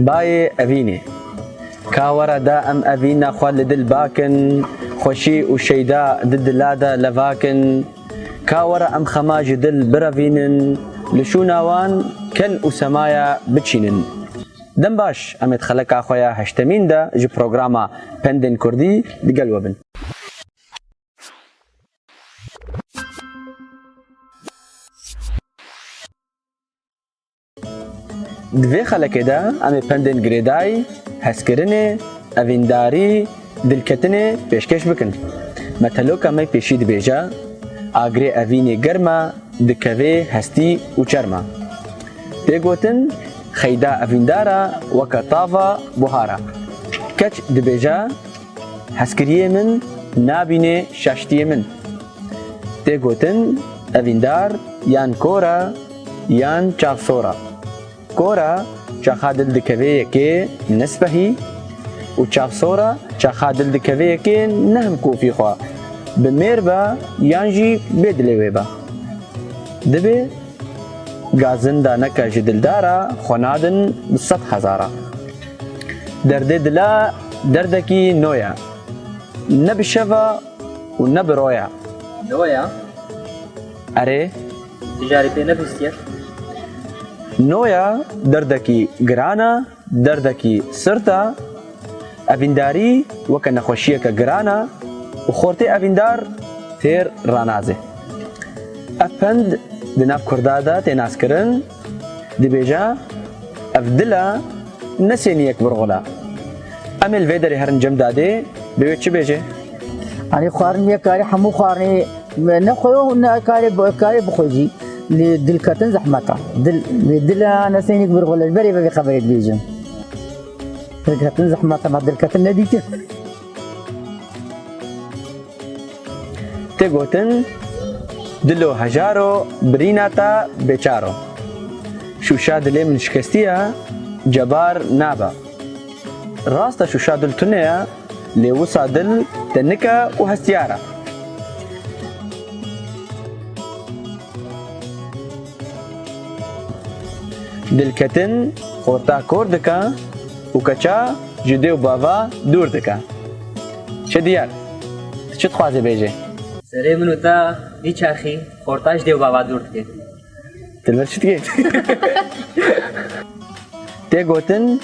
Bayê evînê. Ka were da em evîna xwe li dil bakin, xweşî û şeyda di dila de levakin. Ka were em xema ji dil birevînin, li şûna wan kel û semaya biçînin. Dem baş, em ê di xeleka xwe ya heştemîn de ji programa Pendên Kurdî di gel we bin. Di vê xelekê de em ê pendên girêdayî, hezkirinê, evîndarî, dilketinê pêşkêş bikin. Meteloka me pêşî dibêje, Agirê evînê germ e, dikevê hestî û çerm e. Tê gotin, Xeyda evîndar e weke tava buhar e. Keç dibêje, Hezkiriyê min nabînê şaştiyê min. Tê gotin, Evîndar yan kor e, yan çavsora. Kora çaxa dil dikevê yekê nispehî û çavsora çaxa dil dikevê yekê nehm kofî xwe bi mêr be yan jî bê dilê wê be. Dibê gazin daneke ji dildara xwe nadin bi sed hezara. Derdê dila derdekî no ye. Ne bi şeva û ne bi roya. No ye. Erê. Ti carî pê nebîstiye? Noya derdekî giran e, derdekî sirt e. Evîndarî weke nexweşiyeke giran e û xortê evîndar têr ranazê. Ev pend di nav kurda de tê naskirin. Dibêje, Ev dil e, ne sêniyek birxula. Emê li vê derê herin cem dadê, bi wê çi bêjê? Anî xwarin yê karî hemû xwarinê ne xwe yo ne karê karê bixwe jî lê dilketin zehmeta. Dil lê dil e ne sêniyek birxula ji berê vevê xeberê dibêjim. Dilketin zehmeta me dilketin nedîtin. Tê gotin, Dilo hejar o, birîna ta bêçar o. Şûşa dilê min şikestî ya, cebar nabe. Rast e şûşa dil tune ye, lê wisa dil tenik e û hestiyar e. Dilketin orta kor dike û keça ji dê û bava dûr dike. Çi diyar? Tu çi dixwazî bêjî? Serê min û te dîçerxî, xorta ji dê û bava dûr dike. Ti li vir çi dikî? Tê gotin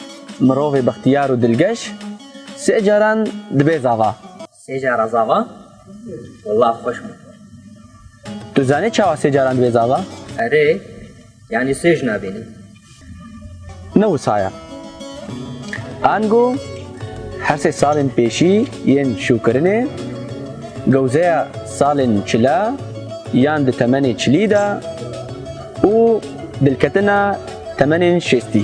mirovê bextiyar û dilgeş sê caran dibe zava. Sê car a zava? Walla xweş bû. Tu zanî çawa sê caran dibe zava? Erê, yanî sê jina bînî? Ne wisa ye. Ango her sê salên pêşî yên şûkirinê, gewzeya salên çile yan di temenê çilî de û dilketina temenên şêstî.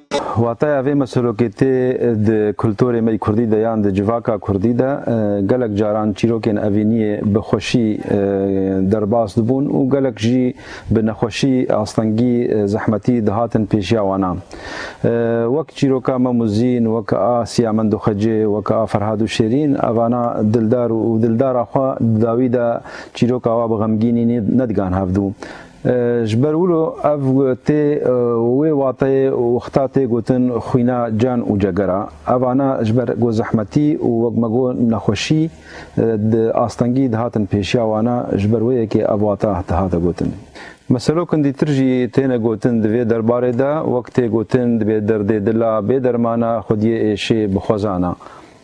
Wateya vê meselokêtê di kulturê me yê kurdî de yan di civaka kurdî de gelek caran çîrokên evîniyê bi xweşî derbas dibûn û gelek jî bi nexweşî, astengî, zehmetî dihatin pêşiya wanan. Wek çîroka Mem û Zîn, wek a Siyamend û Xecê, wek a Ferhad û Şêrîn evana dildar û dildara xwe di dawî de çîroka wan bi xemgînî nedigan hevdû. Ji ber wilo ev tê wê wateyê wexta tê gotin xwîna can û cegera. Ev ana ji ber ku zehmetî û wek me got nexweşî di astengî dihatin pêşiya wan a, ji ber wê yekê ev wata dihate gotin. Meselo kindîtir jî têne gotin di vê derbarê de, wek tê gotin dibê derdê dil a bê dermana xwediyê êşê bi xwezan a.